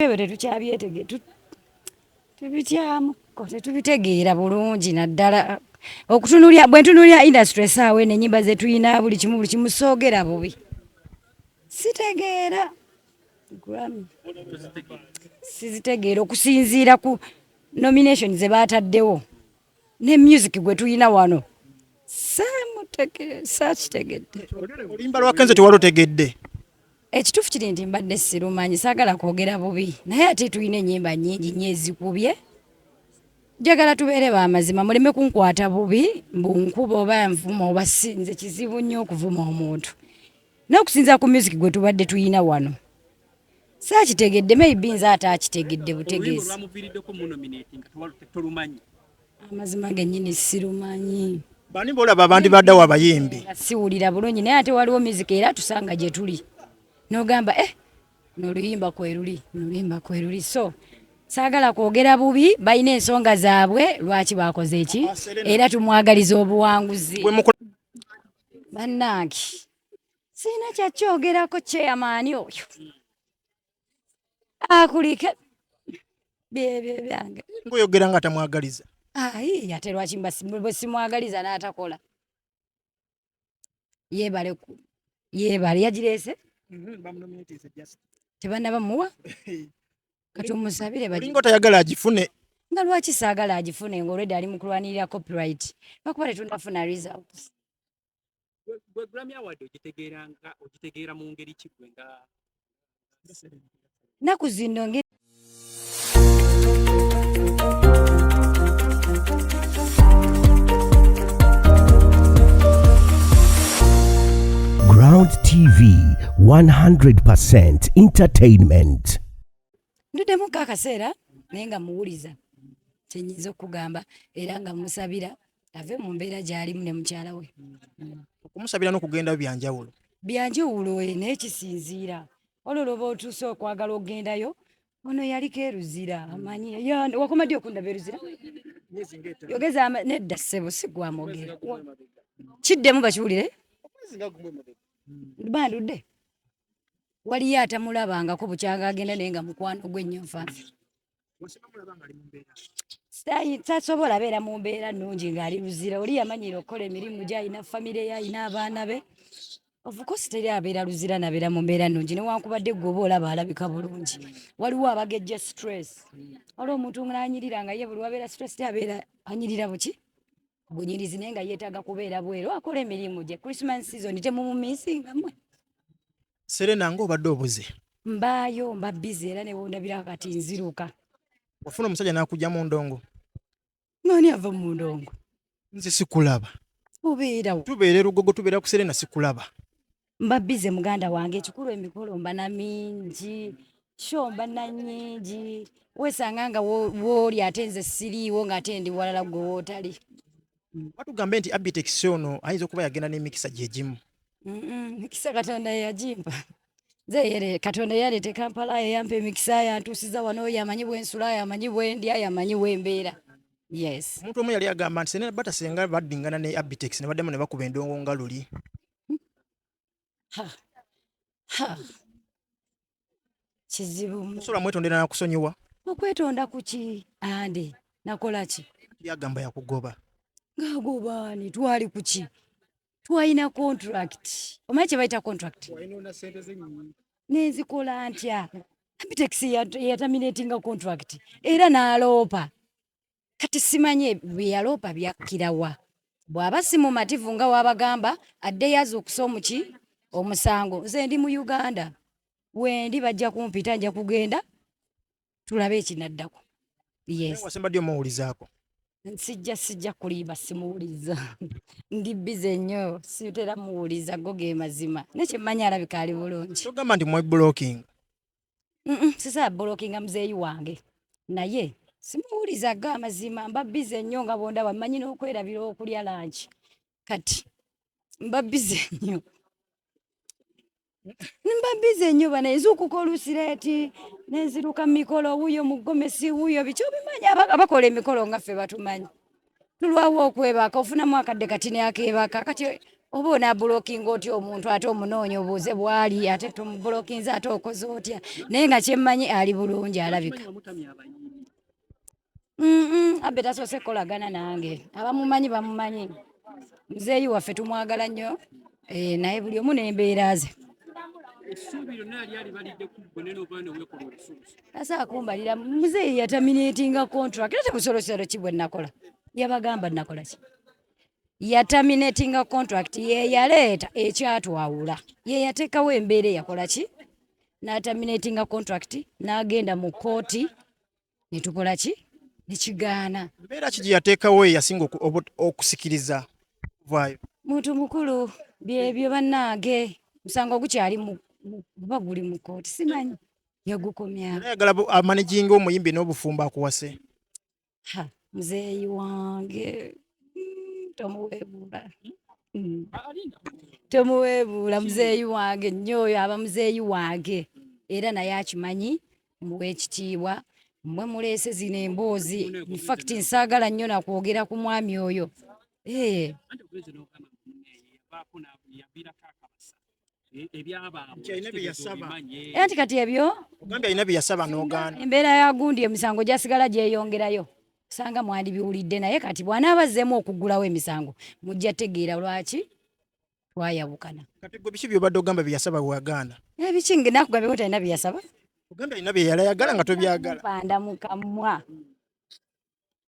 ebyo tetukyabyetege tubityamu tetubitegeera bulungi naddala okutunulya bwe ntunulya industry esaawa eno enyimba zetulina buli kimu buli kimu soogera bubi sitegeera sizitegeera okusinziira ku nomination ze baataddewo ne music gwe tulina wano sakitegedde olimba lwakenze tewalutegedde ekituufu kiri nti mbadde sirumanyi saagala kwogera bubi naye ate tulina enyimba nyingi nyo ezikubye njagala tubeere bamazima muleme kunkwata bubi mbu nkuba oba nvuma oba sinze kizibu nnyo okuvuma omuntu nokusinzira ku music gwe tubadde tuyina wano saakitegedde maybe nze ate akitegedde butegeezi amazima genyini sirumanyi bani bolaba abandi baddawo abayimbi siwulira bulungi naye ate waliwo mizika era tusanga gye tuli n'ogamba eh noluyimba kweruli noluyimba kweruli so saagala kwogera bubi balina ensonga zaabwe lwaki bakoze eki era tumwagaliza obuwanguzi bannange sirina kyakyogerako kyeyamaani oyo akulike byebyo byange ngaoyogera nga tamwagaliza ayi ate lwaki bwesimwagaliza n'atakola yebale yebale yagireese mm-hmm, tebanaba muwa kati omusabire balinga otayagala agifune nga lwaki saagala agifune ngaolwedde ali mu kulwanirira copyright lwakuba tetundafuna results gwe Grammy Award ogitegeera nga ogitegeera mu ngeri ki gwe nga naku zino ngeri Ground TV 100% entertainment ndudemu kakaseera naye nga muwuliza kyenyinza okugamba era nga musabira ave mu mbeera gy'alimu ne mukyala we mm. okumusabira n'okugenda byanjawulo byanjawulo eh, naye kisinziira olwo lwoba otuuse okwagala okugendayo ono yaliko eruzira amanyi wakoma ddi okundaba eruzira yogeza nedda ssebo sigwamogera kiddemu bakiwulire hmm. bandudde waliyo atamulabangako bukyanga agenda naye nga mukwano gwe nnyo nfanfe tasobola beera mu mbeera nnungi ng'ali luzira oli yamanyiira okukola emirimu gye alina famire ye alina abaana be ofukosi teri abeera luzira nabeera mu mbeera nnungi newankubadde gwe oba olaba alabika bulungi waliwo abagejja stress wali omuntu ng'anyirira nga ye buli wabeera stress abeera anyirira buki bunyirizi naye nga yeetaaga kubeera bweru akola emirimu gye christmas season temumumisingamwe Serena nga obadde obuze. Mbaayo mba busy era ne wondabira kati nziruka. Ofuna omusajja n'akujja mu ndongo. Nani ava mu ndongo? Nze sikulaba. Obeerawo. Tubeera erugogo tubeera ku Serena sikulaba. Mba busy muganda wange ekikulu emikolo mba na mingi. Show mba na nyingi. Weesanga nga wooli ate nze siriiwo ng'ate ndi walala gwe wootali. mm. batugambe nti abitex ono ayinza okuba yagenda n'emikisa gyegimu mikisa katonda yeyagimpa zeyere katonda yaleeta ekampala yeyampa emikisa yantuusiza wano yamanyi bwensula yamanyi bwendya yamanyi bwembeera yes omuntu omu yali agamba nti senabata senga baddingana ne abitex ne baddemu ne bakuba endongo nga luli kizibu musobola mwetondera nakusonyiwa okwetonda kuki ande nakola ki yagamba yakugoba ngagobani twali kuki twalina contract omanyi kyebayita contract nenzikola ntya abitex yataminatinga contract era naloopa kati simanyi byeyaloopa byakkirawa bwaba si mumativu nga wabagamba addeyo azuukuse omuki omusango nze ndi mu uganda wendi bajja kumpita nja kugenda tulabe ekinaddako yesembadde omuwulizaako nsijja sijja kulimba simuwuliza ndi bize nnyo sitera muwuliza go ge mazima naye kyemmanyi alabika ali bulungi togamba nti mweblocking sisala bolokinga muzeeyi wange naye simuwuliza ga amazima mba bize nnyo nga bondaba mmanyi n'okwerabira okulya lanki kati mba bize nnyo mba bize nnyo bana nze okuka olusireeti nenziruka mu mikolo wuyo mu gomesi wuyo biki obimanyi abakola emikolo nga ffe batumanyi tulwawo okwebaka ofunamu akadde kati neakebaka kati oba onabulokinga otya omuntu ate omunoonya obuuze bwali ate tomubulokinze ate okoze otya naye nga kyemmanyi ali bulungi alabika abbe tasoose kukolagana nange abamumanyi bamumanyi muzeeyi waffe tumwagala nnyo eh, naye buli omu n'embeera ze asa akumbalira muzeeyi yataminatinga contract era temusolosero ki bwe nakola yabagamba nakola ki yataminatinga contract yeyaleeta ekyatwawula yeyateekawo embeera eyakola ki n'ataminatinga contract n'agenda mu kooti ne tukola ki ne kigaana. Mbeera ki gye yateekawo ye yasinga okusikiriza okuvaayo? Muntu mukulu byebyo bannange, musango gukyali guba guli mu kkooti simanyi yagukomya. Ayagala amanaginga omuyimbi n'obufumbo akuwase. Ha, muzeeyi wange mm, tomuweebuula. Mm. temuweebuula muzeeyi wange nnyo oyo aba muzeeyi wange era naye akimanyi muwe ekitiibwa mwe muleese zino emboozi infact nsaagala nnyo nakwogera ku mwami oyo ee eh. era nti kati ebyo embeera ya gundi emisango gyasigala gyeyongerayo osanga mwandibiwulidde naye kati bwanaaba azzeemu okuggulawo emisango mujja tegeera lwaki twayawukana kati gwe biki byobadde ogamba byeyasaba weyagaana ebiki eh, nakugambyeko talina byeyasaba ogambye alina byeyalayagala nga tobyagala panda mukamwa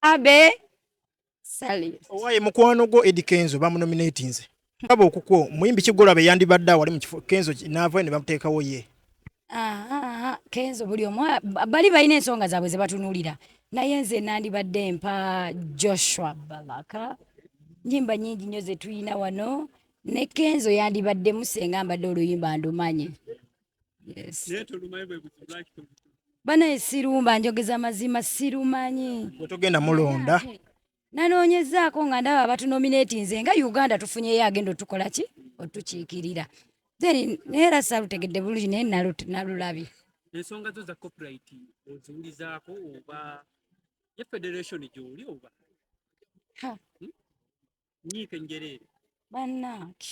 abe sali owaye mukwano gwo edi kenzo bamunominatinze aba okukwo muyimbi kigolaba eyandibadde awali mu kifo kenzo naavayo ne bamuteekawo ye kenzo buli omu bali balina ensonga zaabwe zebatunulira naye nze nandibadde mpa joshua balaka nyimba nyingi nyo zetuyina wano ne kenzo yandibadde musenga mbadde oluyimba ndumanye yes. banaye sirumba njogeza mazima sirumanyi wetugenda mulonda nanoonyezaako nga ndaba abatunominatinze nga uganda tufunyeyo agenda otukola ki otukiikirira then naye era salutegedde bulungi naye nalulabye ensonga zo za copyright oziwulizaako oba ye federation gyoli oba hmm? nyiike njereere bannange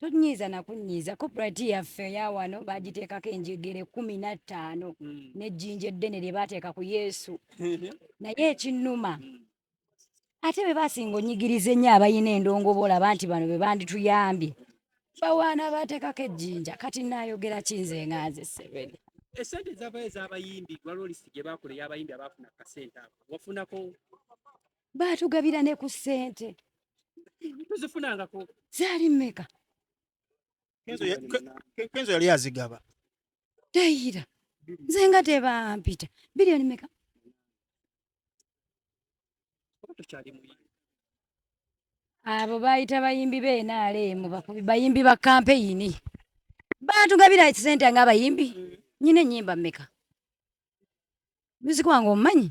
tonyiiza nakunyiiza copyright yaffe eyawano bagiteekako enjegere kumi na ttaano hmm. nejjinja eddene lye bateeka ku yesu naye ekinnuma ate be basinga onyigiriza ennyo abalina endongobola banti bano be bandituyambye bawaana bateekako ejjinja kati naayogera kinze nga nze seveni esente zavayo ezabayimbi waliwo lisiti gye bakola eyabayimbi abaafuna kasente ako wafunako baatugabira ne ku ssente tuzifunangako zaali mmeka kenzo yali azigaba teyira nze nga tebampita biliyoni meka abo bayita bayimbi benaleemu bakubi bayimbi ba kampeyini baatugabira ekisente nga abayimbi mm. nyina enyimba meka music wange omumanyi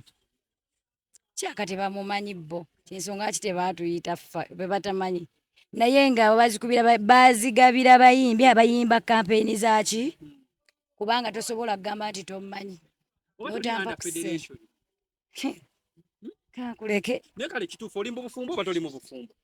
kyaka tebamumanyi bo kyensonga ki tebatuyita ffa bebatamanyi naye nga bazikubira bazigabira bayimbi abayimba kampeyini zaki kubanga tosobola kugamba nti tomumanyi otampakusekankuleke naye kale kituufu olimba obufumbo oba toli mu bufumbo